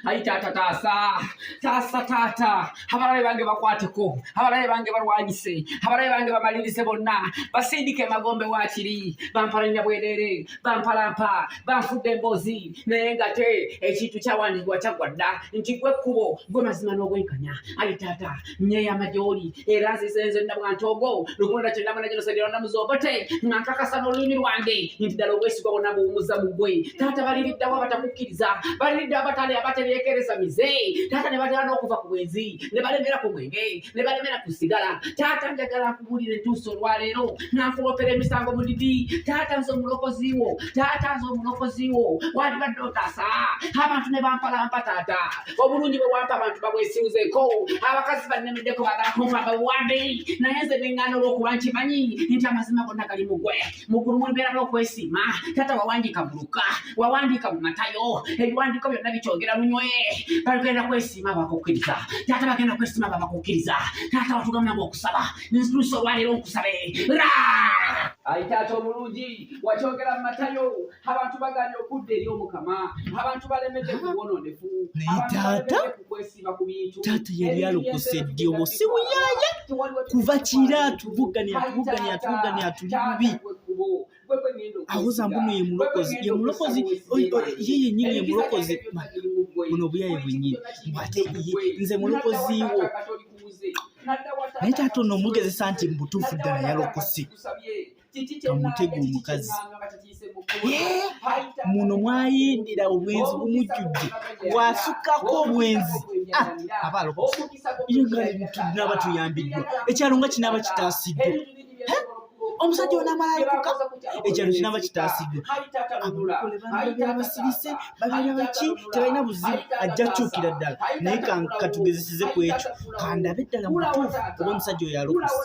ayi taata taasa taasa taata abalabe bange bakwateko abalabe bange balwanyise abalabe bange bamalirize bonna basindika emagombe wakiri bampalanira bwerere bampalampa banfudde emboozi naye nga te ekintu kyawandikibwa kyaggwa dda nti gwe kkubo gwe mazima n'obwenkanya ayi taata nnyeyama gy'oli era nzize nze nna bwantogo lukulonda kye ndamana gino segera ndamuza obote nga nkakasa n'olulimi lwange nti ddala obwesigwa bonna buwumuza mu gwe taata baliriddawo abatakukkiriza baliridde abatali abatereekereza mize taata ne batera n'okuva ku bwenzi ne balemera ku mwenge ne balemera ku sigala taata njagala nkubuulire entuusa olwaleero nankulopera emisango mulidi taata nze omulokozi wo taata nze omulokozi wo wandibadde otaasa abantu ne bampalampa taata obulungi bwe wampa abantu babwesiwuzeeko abakazi bannemeddeko bagala kumpa babuwambe naye nze bengana olw'okuba nti manyi nti amazima gonna gali mugwe mukulu mulibeera n'okwesiima taata wawandiika mu luka wawandiika mu matayo ebiwandiiko byonna bikyogera lunywe bagenda kwesiima bakukkiriza taata bagenda kwesiima babakukkiriza taata watugamba nga okusaba nzituusa olwaleero nkusabe ra ayi taata omulungi wakyogera mu matayo abantu baganye okudda eri omukama abantu balemedde kubwononefu kukwesiba ku bintu taata yali alokose ddi omusi muyaya kuva kira atuvugane atuvugane atuvugane atuli bubi awoza mbuno ye mulokozi ye mulokozi ye yenyini ye mulokozi buno obuyaye bwenyini ate nze mulokozi wo naye taata ono omugezesa nti mubutuufu ddala yalokose kamutega omukazi muno mwayindira obwenzi bumujjudde wasukako obwenzi ah, abaalokoinaba tuyambiddwa ekyalo nga kinaaba kitaasiddwa omusajja onamalayoka ekyalo kinaba kitaasiddwa abasirise babeera baki tebalina buzibu ajja kyukira ddala naye katugezeseze ku ekyo kandabe ddala mutuufu oba omusajja oyo alokose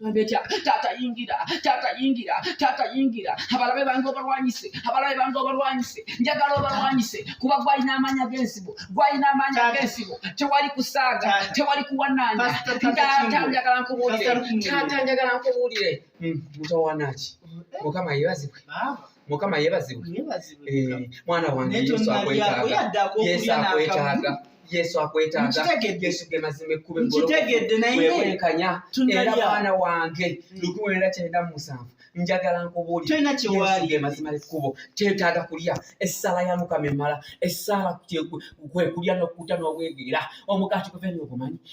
Ndecha tata yingira tata yingira tata yingira abalabe bange obalwanyise abalabe bange obalwanyise njagala obalwanyise kuba gwalina amaanyi ag'ensibo gwalina amaanyi ag'ensibo tewali kusaaga tewali kuwananya tata njagala nkubuulire tata njagala nkubuulire hmm, mutawanaki eh. mukama yebazibwe mukama yebazibwe eh, mwana wange yesu akwetaaga yesu akwetaaga yesu akwetaaga yesu ge mazima ekkuba eggoloweekanya era mwana wange hmm. lukuwenda kyenda mu musanvu njagala nkubuulirege mazima ekkubo kyetaaga kulya essaala ya mukama emala essaala kwe kulya n'okukuta n'obwegeera omugaati guve niogumanyi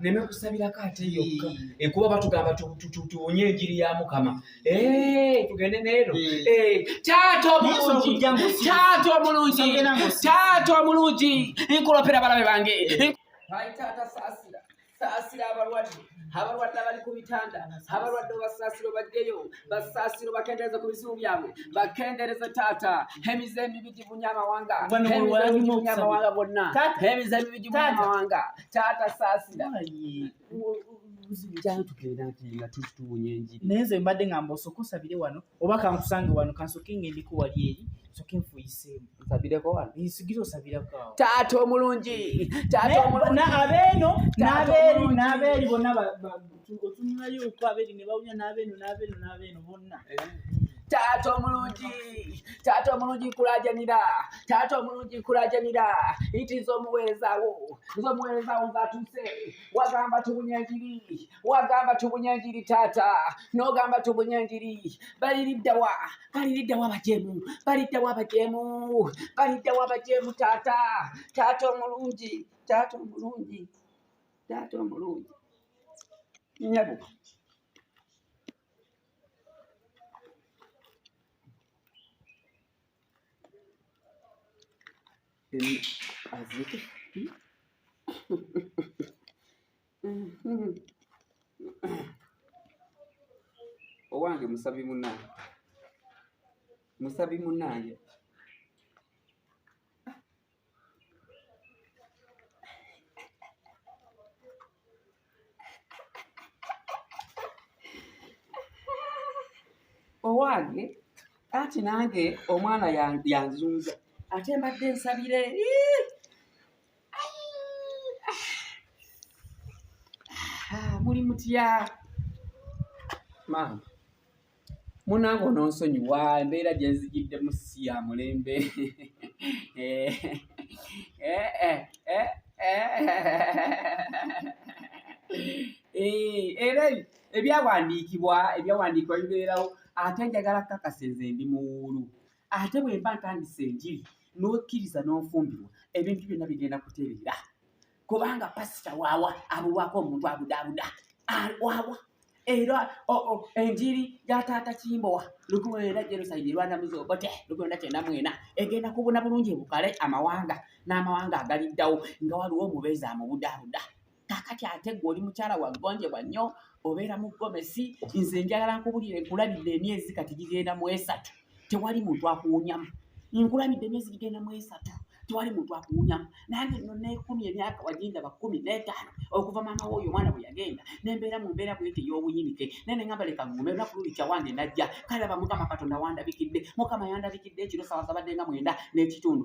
neme kusabirako ate yokka ekuba batugamba tuwunye enjiri ya mukama tugende neero taata omulungi taata omulungi taata omulungi nkulopera balabe bange taata saasira saasira abalwadde abalwadde abali ku bitanda abalwadde obasaasiro bajjeyo basaasiro bakendereze ku bizibu byabwe bakendereze taata emize emibi gibunya amawanga emizegibunya amawanga bonna emize emibi gibunya amawanga taata saasira naye nze mbadde ngamba osoka osabire wano oba kankusange wano kansoke ngendeko wali eri soke nfuyiseemu nsabireko wano nsigira osabirako awo taata omulungi taata omulungi abeeno n'abeeri n'abeeri bonna otunulayo oku abeeri ne bawulira n'abeeno n'abeeno n'abeeno bonna eh. taata omulungi taata omulungi nkulajanira taata omulungi nkulajanira iti nze omuweereza wo nze omuweereza wo nze atuuse wagamba tubunya njiri wagamba tubunya njiri taata nogamba tubunya njiri baliriddawa baliriddawa abajemu baliddawa abajemu baliddawa abajemu taata taata omulungi taata omulungi taata omulungi nyabo Azıcık. owange musabi munange musabi munange owange anti nange omwana yanzunza ate mbadde nsabire ah, muli mutya maama munange ononsonyiwa embeera gyenzigiddemu si ya mulembe eh, eh, eh, era ebyawandiikibwa ebyawandiikibwa bibeerawo ate njagala kukakasa enze ndi muwuulu ate bwemba ntandisa enjiri n'okkiriza n'ofumbirwa ebintu byonna bigenda kutereera kubanga pasita waawa abulwako omuntu abudaabuda waawa era enjiri ya taata kimbowa lukumwenda jenoside rwanda muzobote lukumwenda kyenda mwena egenda kubuna bulungi bukale amawanga n'amawanga agaliddawo nga waliwo omubeezi amubudaabuda kakati ate gwe oli mukyala wagonjebwa nnyo obeera mu gomesi nze njagala nkubulire nkulabidde emyezi kati gigenda mu esatu tewali muntu akuwunyamu nkulabidde emyezi gigenda mu esatu tewali muntu akuwunyamu nange no nekumi emyaka wagindaba kumi netaano okuva maama woyo omwana bwe yagenda nembeera mu mbeera bwete ey'obuyinike naye nengamba leka ngume olunaku luli kyawange najja kalaba mukama katonda wandabikidde mukama yandabikidde ekiro sawa zabadde nga mwenda n'ekitundu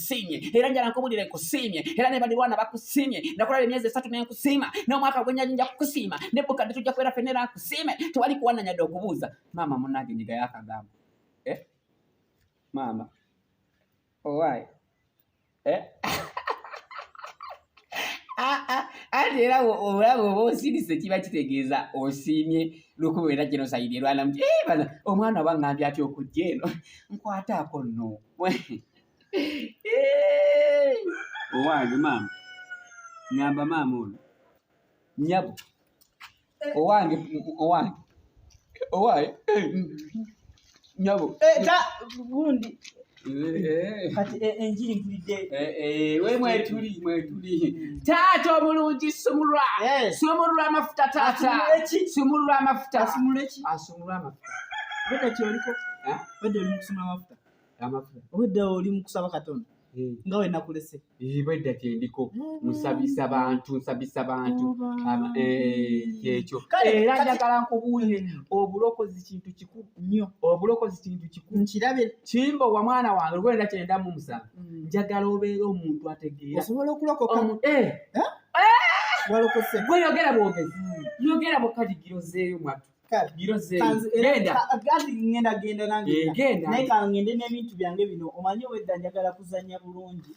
nkusiimye era njala nkubulire nkusiimye era ne balirwana bakusiimye nakulaba emyezi esatu ne nkusiima n'omwaka gwenyaji nja kukusiima ne bukadde tujja kubeera fenna era nkusiime tewali kuwananyadde okubuuza maama munange nyiga yakagamba eh? maama owaye oh, eh? ah, ah. ate era olaba oba osirise kiba kitegeeza osiimye lukuba era kino sayidi erwanamu eh, omwana oba ngambye atya okujja eno nkwataako no owange maama nyamba maama ono nyabo owange owange owaye nyabo eh, ta gundi eh. kati eh, enjiri mpulidde we mwetuli mwetuli hmm. taata obulungi sumulwa sumulwa amafuta taata sumulwa amafuta asumulwa amafuta bwedda kyoliko bwedda oli mukusumula amafuta amafuta obwedda oli mukusaba katonda eh. nga wenakulese eh, bwedda kyendiko nsabisa bantu nsabisa bantu kyekyo era njagala nkubuulire hmm. obulokozi kintu kikulu nnyo obulokozi kintu kikulu nkirabe kimba owa mwana wange lwenda kyenda mu musanvu hmm. njagala obeera omuntu ategeera osobola okulokoka walokose gweyogera bwogezi hmm. yogera bukajigiro zeeyo mwatu ngenda genda nangnaye kangende n'ebintu byange bino omanyi obwedda njagala kuzanya bulungi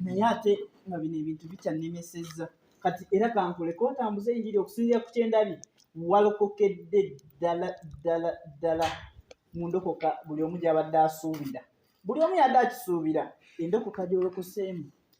naye ate nga bino ebintu bikyannemesezza kati era kankuleka otambuze enjiri okusinzira ku kyendabi walokokedde ddala ddala ddala mu ndokoka buli omu gyabadde asuubira buli omu yadde akisuubira endokoka gyolokoseemu